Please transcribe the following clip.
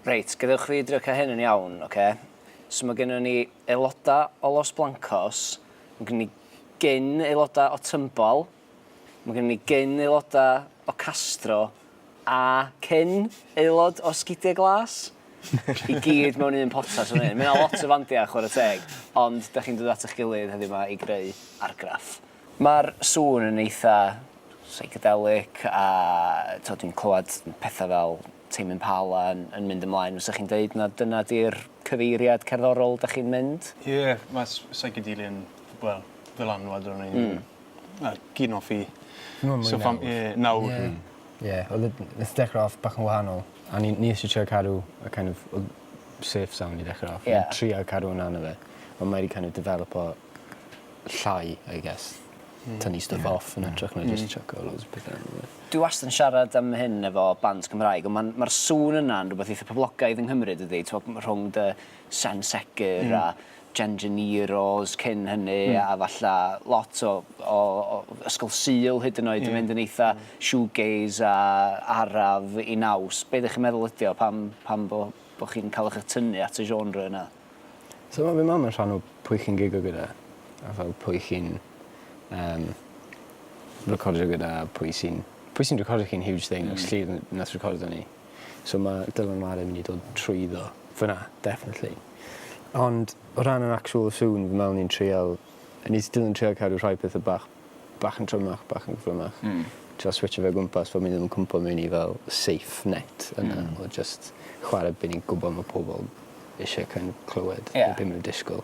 Reit, gadewch fi drio cael hyn yn iawn, oce? So mae gennym ni aelodau o Los Blancos, mae gennym ni gyn aelodau o Tymbol, mae gennym ni gyn aelodau o Castro, a cyn aelod o Sgidiau Glas? I gyd mewn un potas fan hyn. Mae yna lot o fandiau, chwarae teg, ond da chi'n dod at eich gilydd heddiw yma i greu argraff. Mae'r sŵn yn eitha' psychedelic a, tibod, dwi'n clywed pethau fel Tame Impala yn, yn mynd ymlaen, fysa chi'n deud na dyna di'r cyfeiriad cerddorol da chi'n mynd? Ie, yeah, mae psychedelia yn, wel, ddylanwad o'n i'n... Mm. Na, gyn off i... Mwy mwy so, nawr. Ie, yeah, nawr. Ie. Yeah. Ie, yeah, oedd y... Nes dechrau off bach yn wahanol. A ni, ni eisiau trio cadw y kind of, oedd safe sound i dechrau off. Ie. Yeah. Trio cadw hwnna na fe. Ond mae wedi kind of developo llai I guess. Hmm. Tynnu stwff... Ie. ...off yn hytrach na jyst chucko loads o pethe arno fe. Dwi wastad yn siarad am hyn efo bands Cymraeg on' ma'n ma'r sŵn yna'n rwbeth eitha poblogaidd yng Nghymru dydi t'mo' m- rhwng dy Sen Segur... Hmm. ...a Jen Janero's cyn hynny... Hmm. ...a falla lot o o o Ysgol Sul hyd yn oed... Ie. ...yn mynd yn eitha shoegaze a araf i naws. Be' 'dych chi'n meddwl ydi o pam pam bo' bo' chi'n ca'l 'ych y tynnu at y genre yna? So ma' fy mam yn rhan o pwy chi'n gigio gyda a fel pwy chi'n yym recordio gyda a pwy sy'n pwy sy'n recordio chi'n huge thing. Hmm. Felly n- nath recordio ni. So ma' Dylan Whare yn myn' i dod trwyddo fyn 'na definately. Ond o ran yr actual sŵn fi me'wl ni'n trial yy nes i Dylan trio cadw rhai petha bach bach yn trymach bach yn gyflymach. Hmm. Trio switsio fe o gwmpas fel 'yn ni ddim yn cwmpo mewn i fel safe net yna. Hmm. O jyst chware be' ni'n gwbo ma' pobol isie kin' clywed. Ie. Be' ma' nw'n disgwl.